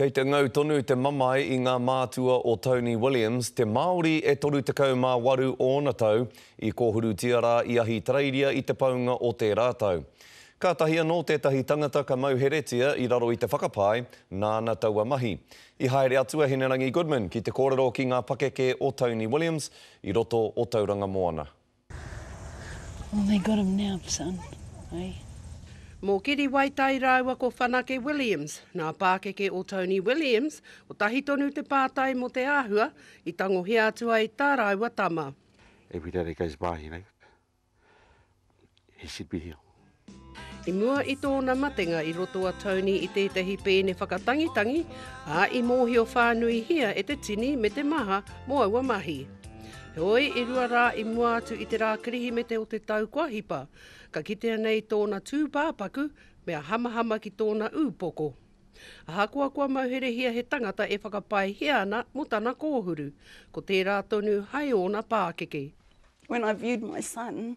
Kei te ngau tonu te mamae i ngā mātua o Tony Williams, te Māori e 38 ōna tau, i kōhurutia rā i Ahitereiria i te paunga o tērā tau. Kātahi anō tētahi tangata ka mauheretia i raro i te whakapae, nāna taua mahi. I haere atu a Hinerangi Goodman ki te kōrero ki ngā pakeke o Tony Williams i roto o Tauranga Moana. Well they got him now son, eh? Mō Kiri Waitai rāua ko Whanake Williams, nā pākeke o Tony Williams, kotahi tonu te pātai mō te āhua i tangohia atu ai tā rāua tama. Every day that goes by, you know, he should be here. I mua i tōna matenga i roto a Tony i tētahi pēne whakatangitangi, ā, i mōhio whānuihia e te tini me te maha mō aua mahi. Heoi, i rua rā i mua atu i te rā Kirihimete o te tau kua hipa, ka kitea nei tōna tūpāpaku mea hamahama ki tōna ūpoko. Ahakoa kua mauherehia he tangata e whakapaehia ana mō tana kōhuru, ko tērā tonu hai ōna pākeke. When I viewed my son,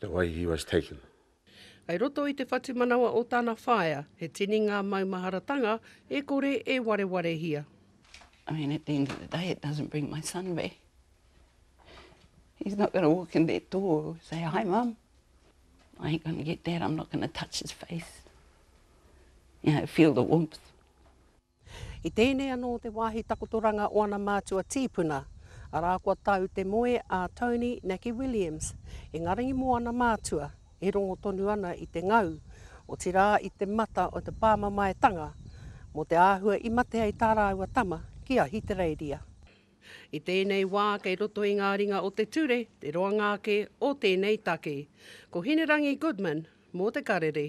the way he was taken. Kei roto i te whatumanawa o tana whaea, he tini ngā maumaharatanga e kore e warewarehia. I mean, at the end of the day, it doesn't bring my son back. He's not going to walk in that door and say, hi mum. I ain't going to get that, I'm not going to touch his face. You know, feel the warmth. I tēnei anō te wāhi takotoranga o ana mātua tīpuna, arā kua tau te moe a Tony Naki Williams i Ngarangi mō ana mātua e rongo tonu ana i te ngau, otirā i te mata o te pāmamaetanga, mō te āhua i mate ai tā rāua tama ki Ahitereiria. I tēnei wā kei roto i ngā ringa o te ture te roanga ake o tēnei take. Ko Hinerangi Goodman mō Te Karere.